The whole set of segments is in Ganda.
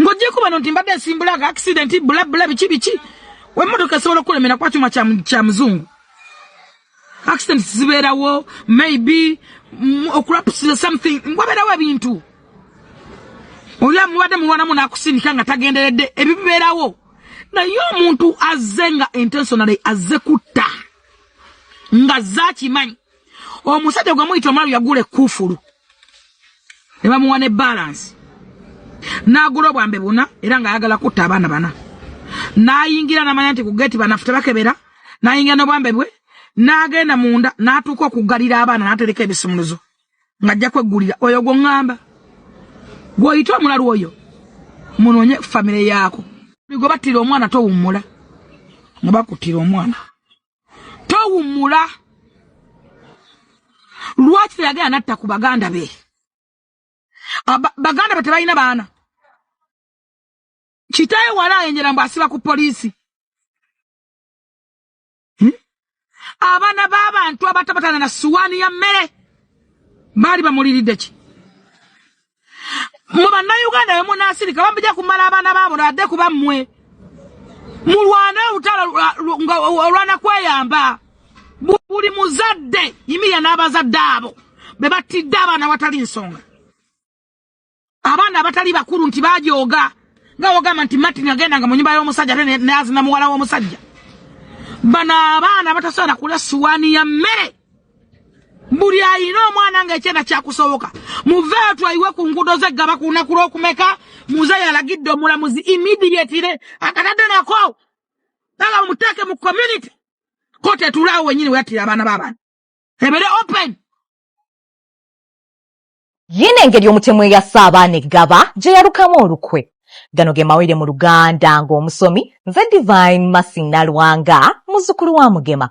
ng'ogyeko bano nti mbadde nsimbula nga akisidenti bulabula biki biki wemotoka esobola okukulemera kuba kyuma kya muzungu accident zibeerawo maybe mm, okulapusiza something wabeerawo ebintu oli amubadde mulwanamu nakusindika nga tagenderedde ebibeerawo naye omuntu azze nga intentionally azze kutta nga zakimanyi omusajja gwe muyita omulalu yagula ekkuufulu ne bamuwa ne balansi n'agula obwambe buna era ng'ayagala kutta abaana bana n'ayingira n'amanya nti ku geeti banafu tebakebera n'ayingira n'obwambe bwe n'agenda munda n'atuuka okuggalira abaana n'atereka ebisumuluzo ng'ajja kweggulira oyo gwe ŋŋamba gw'oyita omulalu oyo munoonye famire yaako gwe battira omwana towummula nga bakuttira omwana towummula lwaki teyagenda natta ku baganda be ah, baganda be tebalina baana kitaye wala ayenjera mbu asiba ku poliisi hmm? abaana b'abantu abatabatana na suwaani ya mmere baali bamuliridde ki mwe bannayuganda bemunasirika bambija kumala abaana baabo nadde kuba mmwe mulwane olutalo olwana kweyamba buli muzadde yimirira n'abazadde abo be battidde abaana watali nsonga abaana abatali bakulu nti bajooga nga wogamba nti martin agenda nga mu nyumba y'omusajja ate nazina muwala w'omusajja bano abaana batasobola kulya suwaani ya mmere buli ayina omwana nga ekyenda kyakusoboka muveeyo twayiwe ku nguudo ze gaba ku lunaku lw'okumeka muze yalagidde omulamuzi immediately akatadde nako aga muteeke mu community kooti etulaawo wenyini weyattira abaana b'abantu ebere open yina engeri omutemu eyasa abaana eggaba gye yalukamu olukwe gano ge mawulire mu luganda ng'omusomi nze divine masi nalwanga muzukulu wa mugema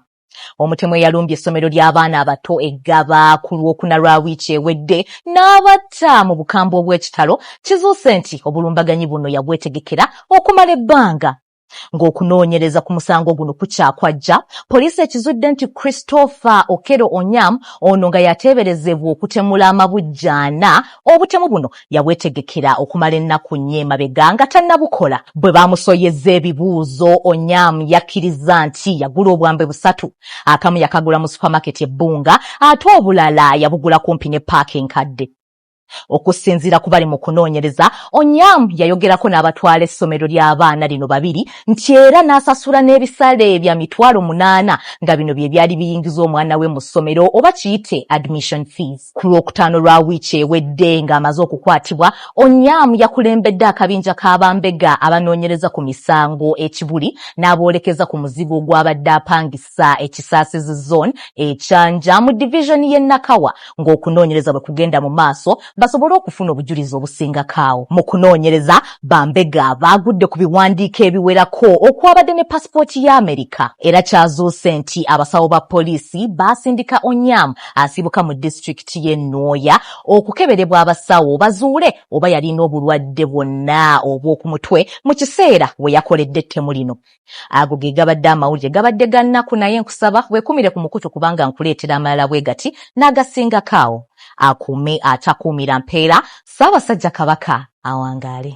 Omutemu eyalumbye essomero ly'abaana abato e Ggaba ku Lwokuna lwa wiiki ewedde n'abatta mu bukambwe obw'ekitalo, kizuuse nti obulumbaganyi buno yabwetegekera okumala ebbanga. Ng'okunoonyereza ku musango guno kukyakwajja, poliisi ekizudde nti Christopher Okello Onyam ono nga y'ateeberezebwa okutemula amabujje ana obutemu buno, yabwetegekera okumala ennaku nnya emabega nga tannabukola. Bwe baamusoyezza ebibuuzo, Onyam yakkirizza nti yagula obwambe busatu, akamu yakagula mu supamaketi e Bunga ate obulala yabugula kumpi ne ppaaka enkadde. Okusinziira ku bali mu kunoonyereza, Onyam yayogerako n'abatwala essomero ly'abaana lino babiri nti era n'asasula n'ebisale bya mitwalo munaana nga bino bye byali biyingiza omwana we mu ssomero oba kiyite admission fees. Ku Lwokutaano lwa wiiki ewedde ng'amaze okukwatibwa, Onyam yakulembedde akabinja ka bambega abanoonyereza ku misango e Kibuli n'aboolekeza ku muzigo gw'abadde apangisa e Kisaasizi Zone e Kyanja mu Divizoni y'e Nakawa ng'okunoonyereza bwe kugenda mu maaso basobole okufuna obujulizi obusingako. Mu kunoonyereza, bambega baagudde ku biwandiiko ebiwerako okwabadde ne pasipooti ya Amerika era kyazuuse nti abasawo ba poliisi baasindika Onyam asibuka mu disitulikiti y'e Nwoya okukeberebwa abasawo bazuule oba yalina obulwadde bwonna obw'oku mutwe mu kiseera we yakoledde ettemu lino. Ago ge gabadde amawulire gabadde ga nnaku naye nkusaba weekumire ku mukutu kubanga nkuleetera amalala bwe gati n'agasingako awo. Akuume atakuumira mpeera, Ssaabasajja Kabaka awangaale.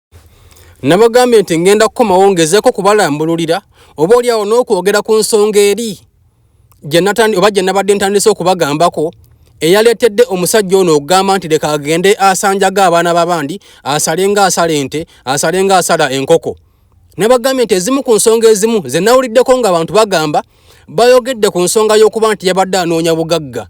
nabagambye nti ngenda kukomawo ngezeeko kubalambululira oba oli awo n'okwogera ku nsonga eri oba gye nabadde ntandise okubagambako eyaleetedde omusajja ono okugamba nti leka agende asanjaga abaana babandi asale nga asala ente asale nga asala enkoko nabagambye nti ezimu ku nsonga ezimu ze nawuliddeko ng'abantu bagamba bayogedde ku nsonga y'okuba nti yabadde anoonya bugagga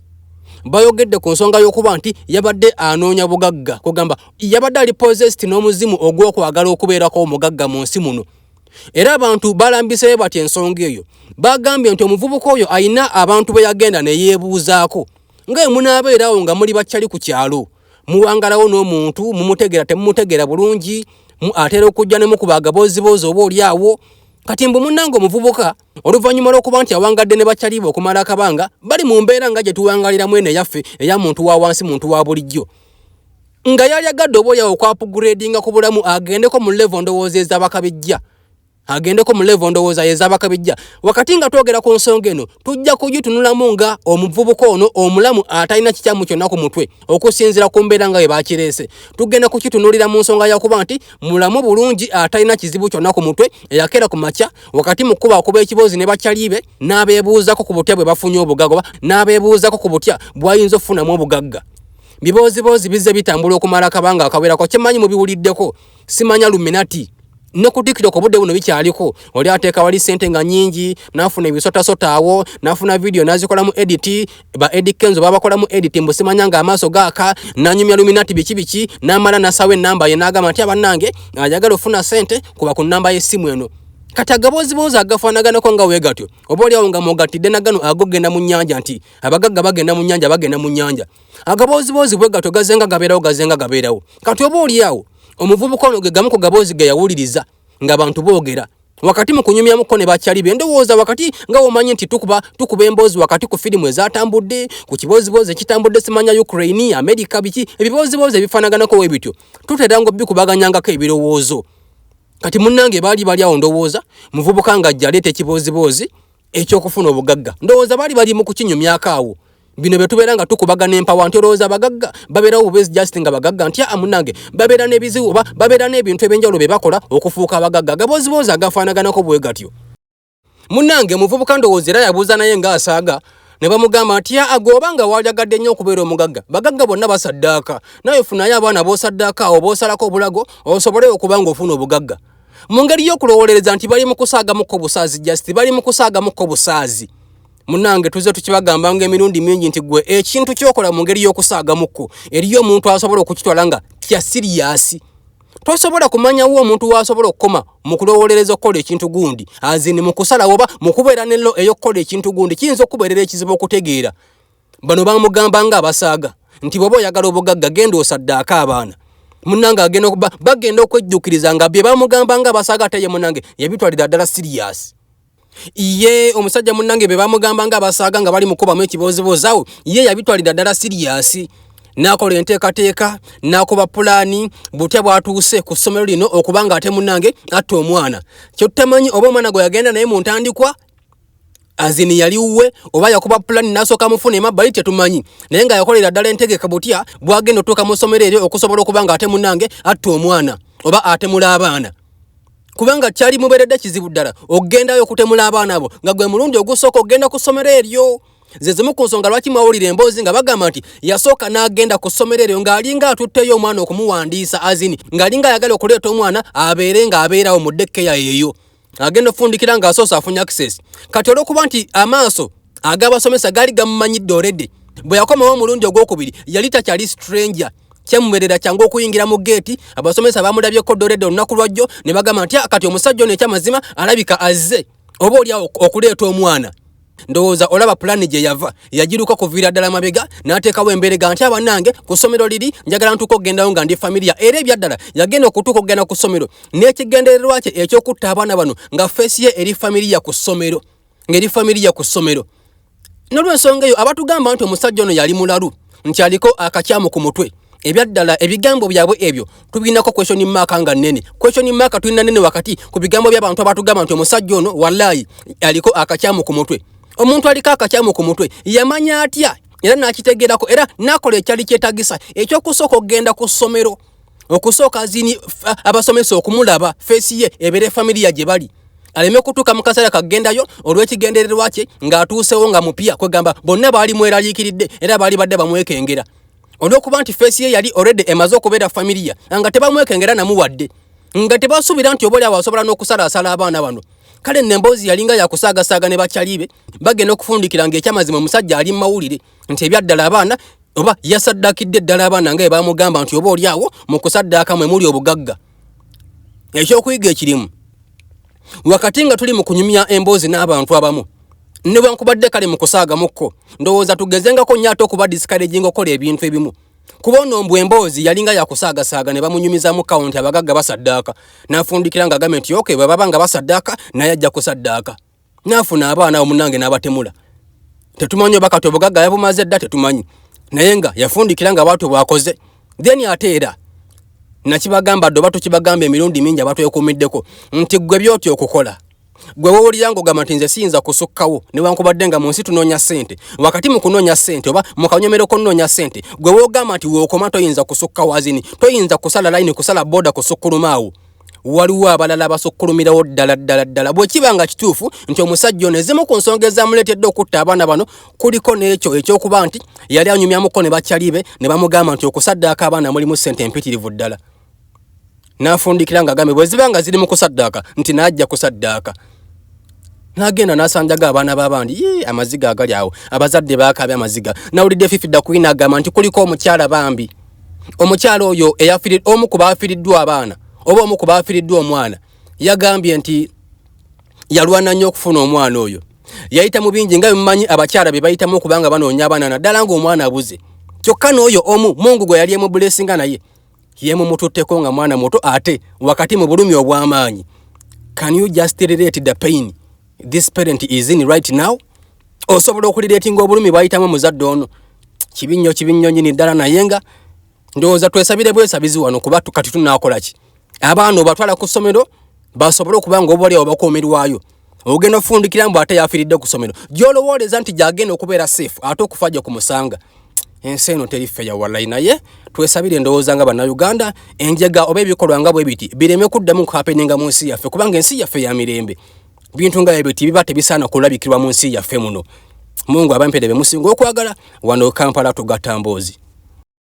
bayogedde ku nsonga y'okuba nti yabadde anoonya bugagga kugamba yabadde ali posest n'omuzimu ogw'okwagala okubeerako omugagga mu nsi muno era abantu balambiseyo batya ensonga eyo bagambye nti omuvubuka oyo alina abantu be yagenda ne yeebuuzaako nga ye munaabeerawo nga muli bakyali ku kyalo muwangalawo n'omuntu mumutegeera temumutegeera bulungi atera okujja ne mukuba agabooziboozi oba oli awo kati mbu munnange omuvubuka Oluvannyuma lw'okuba nti awangadde ne bakyaliiba okumala akabanga, bali mu mbeera nga gye tuwangalira mwene yaffe eya muntu wa wansi muntu wa bulijjo. Nga yalyagadde oba olyawo okwapugureedinga ku bulamu agendeko mu levo ndowooza ez'abakabijja. Agendeko mu levo ndowooza y'ez'abakabijja. Wakati nga twogera ku nsonga eno, tujja kugitunulamu nga omuvubuka ono omulamu atalina kikyamu kyonna ku mutwe, okusinzira ku mbeera nga bwe bakireese. Tugenda kukitunulira mu nsonga yakuba nti mulamu bulungi atalina kizibu kyonna ku mutwe, eyakeera ku makya, wakati mu kuba okuba ekiboozi ne bakyalibe n'abeebuuzako ku butya bwe bafunye obugagga oba n'abeebuuzako ku butya bw'ayinza okufunamu obugagga bibooziboozi bizze bitambula okumala akabanga akawerako kyemanyi mubiwuliddeko simanya luminati nokudikira ku budde buno bikyaliko oli ateeka wali sente nga nyingi nafuna ebisotasota awo nafuna vidiyo nazikolamu editi ba Eddy Kenzo babakolamu edit mbu simanya nga amaaso gaaka nanyumya luminati biki biki namala nasawa enamba ye nagamba nti abanange ayagala ofuna sente kuba ku namba y'essimu eno kati agaboziboozi agafaanaganako nga we gatyo oba oliawo nga mugatidde nagano agogenda mu nyanja nti abagagga bagenda mu nyanja bagenda mu nyanja agaboziboozi bwe gatyo gazenga gabeerawo gazenga gabeerawo kati oba oliawo omuvubuka ono ge gamu ku gaboozi ge yawuliriza nga bantu bogera wakati mu kunyumyamuko ne bakyali be ndowooza wakati nga womanyi nti tukuba tukuba emboozi wakati ku firimu ezatambudde ku kibooziboozi ekitambudde simanya ukraine amerika biki ebibooziboozi ebifanaganako we bityo tutera nga obikubaganyangako ebirowoozo kati munnange baali bali awo ndowooza muvubuka nga jjaleeta ekibooziboozi ekyokufuna obugagga ndowooza baali bali mu kukinyumyako awo bino bye tubeera nga tukubaga n'empawa nti olowooza abagagga babeerawo bubezi just nga bagagga nti aa munange babeera n'ebizibu oba babeera n'ebintu ebyenjawulo bye bakola okufuuka abagagga gabooziboozi agafaanaganako bwe gatyo munange muvubuka ndowooza era yabuuza naye ng'asaaga ne bamugamba nti aa gwoba nga waalyagadde nnyo okubeera omugagga bagagga bonna basaddaaka naye funayo abaana boosaddaaka awo boosalako obulago osobole okuba ng'ofuna obugagga mu ngeri y'okulowolereza nti bali mu kusaagamuko busaazi just bali mu kusaagamuko busaazi munange tuze tukibagamba nga emirundi mingi nti gwe ekintu kyokola mu ngeri y'okusaagamuko eriyo omuntu asobola okukitwala nga kya siriyasi tosobola kumanyawo omuntu wasobola okukoma mu kulowolereza okukola ekintu gundi azini mu kusalawo oba mu kubeera nello ey'okukola ekintu gundi kiyinza okubeerera ekizibu okutegeera bano bamugamba nga abasaaga nti bwoba oyagala obugagga genda osaddaako abaana munange agenda okuba bagenda okwejjukiriza nga bye bamugamba nga abasaaga ate ye munange yabitwalira ddala siriyasi ye omusajja munange bye bamugamba nga abasaaga nga bali mukubamu ekibooziboozawo ye yabitwalira ddala siriyasi nakola enteekateeka nakuba pulaani butya bwatuuse ku ssomero lino okuba nga ate munange atta omwana kyottamanyi oba omwana gwe yagenda naye mu ntandikwa azini yali wuwe oba yakuba pulani n'asooka mufuna emabbali tetumanyi naye nga yakolera ddala entegeka butya bwagenda otuuka mu ssomero eryo okusobola okuba nga ate munange atta omwana oba atemula abaana kubanga kyali muberedde kizibu ddala okugendayo okutemula abaana abo nga gwe mulundi ogusooka okugenda ku ssomero eryo ze zimu ku nsonga lwaki mwawulira emboozi nga bagamba nti yasooka n'agenda ku ssomero eryo ng'alinga atutteyo omwana okumuwandiisa azini ng'alinga ayagala okuleeta omwana abeere ng'abeerawo mu dekkeya eyo agenda ofundikira nga asoose afunye access kati olwokuba nti amaaso agabasomesa gaali gamumanyidde oredi bwe yakomawo omulundi ogwokubiri yali takyali stranger kyemuberera kyangu okuyingira mu geeti abasomesa bamulabyeko doredi olunaku lwajjo ne bagamba nti ah, kati omusajja ono ekyamazima alabika azze oba olyawo okuleeta omwana ndowooza olaba pulaani gye yava yagiruka kuviira ddala mabega n'ateekawo emberega nti abanange ku ssomero liri njagala ntuuka okugendayo nga ndi familiya era ebyaddala yagenda okutuuka okugenda ku ssomero n'ekigendererwa kye eky'okutta abaana bano nga feesi ye eri familiya ku ssomero ng'eri familiya ku ssomero nolwensonga eyo abatugamba nti omusajja ono yali mulalu nti aliko akakyamu ku mutwe ebyaddala ebigambo byabwe ebyo tubirinako question mark nga nene question mark tulina nene wakati ku bigambo by'abantu abatugamba nti omusajja ono wallayi aliko akakyamu ku mutwe omuntu aliko akakyamu ku mutwe yamanya atya era nakitegerako era nakola ekyali kyetagisa ekyokusooka okugenda ku ssomero okusooka zini abasomesa okumulaba feesi ye ebeere familiya gye bali aleme kutuuka mu kaseera kagendayo olw'ekigendererwa kye ng'atuusewo nga mupya kwegamba bonna baali mweraliikiridde era baali badde bamwekengera olwokuba nti feesi ye yali already emaze okubeera familiya nga tebamwekengera namu wadde nga tebasuubira nti obaolyawo asobola n'okusalaasala abaana bano kale nno emboozi yalinga yakusaagasaaga ne bakyalibe bagenda okufundikira ng'ekyamazima omusajja ali mu mawulire nti ebyaddala abaana oba yasaddakidde eddala abaana nga ebamugamba nti oba olyawo mu kusaddaaka mwe muli obugagga ekyokuyiga ekirimu wakati nga tuli mu kunyumya emboozi n'abantu abamu newankubadde kale mu kusaagamuko ndowooza tugezengako nnyo ate okuba disikareginga okukola ebintu ebimu kuba ono mbu emboozi yalinga yakusaagasaaga ne bamunyumizamu kawunti abagagga basaddaaka n'afundikira ng'agambe nti oke bwe baba nga basaddaaka naye ajja kusaddaaka nafuna abaana awo munange n'abatemula tetumanyi oba kati obugagga yabumaze dda tetumanyi naye nga yafundikira nga bwatyo bwakoze then ate era nakibagamba dde oba tukibagamba emirundi mingi abatwekuumiddeko nti ggwe byotya okukola gwe wowulira ngaogamba nti nze siyinza kusukkawo newankubadde nga mu nsi tunoonya ssente wakati mu kunoonya ssente oba mu kanyomero konoonya ssente gwe wogamba nti weokoma toyinza kusukkawo azini toyinza kusala layini kusala booda kusukkulumaawo waliwo abalala abasukkulumirawo ddala ddala ddala bwe kiba nga kituufu nti omusajja ono ezimu ku nsonga ezamuleetedde okutta abaana bano kuliko n'ekyo eky'okuba nti yali anyumyamuko ne bakyali be ne bamugamba nti okusaddaaka abaana mulimu ssente empitirivu ddala n'afundikira ng'agambe bwe ziba nga ziri mu kusaddaaka nti n'ajja kusaddaaka nagenda nasanjaga abaana babandi ye amaziga agali awo abazadde bakabya amaziga nawulidde fifida kuyina agamba nti kuliko omukyala bambi omukyala oyo omu ku baafiriddwa abaana oba omu ku baafiriddwa omwana yagambye nti yalwana nnyo okufuna omwana oyo yayita mu bingi nga bimumanyi abakyala be bayitamu okuba nga banoonya abaana naddala ng'omwana abuze kyokka n'oyo omu mungu gwe yali emubulesinga naye yemumututteko nga mwana muto ate wakati mu bulumi obw'amaanyi can you just relate the pain this parent is in right now osobola okuliretinga obulumi bwayitamu omuzadde ono kibi nnyo kibi nnyo nyini ddala naye nga ndowooza twesabire bwesabizi wano kuba kati tunakola ki abaana obatwala ku ssomero basobole okuba nga obaolyawo bakuumirwayo ogenda ofundikira mbu ate yafiiridde ku ssomero gyolowooleza nti gyagenda okubeera seefu ate okufa gye ku musanga ensi eno teri feya walayi naye twesabire endowooza nga bannayuganda enjega oba ebikolwa nga bwe biti bireme kuddamu kuhapeninga mu nsi yaffe kubanga ensi yaffe ya mirembe bintu nga ebyo tibiba tebisaana kulabikirwa mu nsi yaffe muno mungu abampere bemusinga okwagala wano kampala tugatamboozi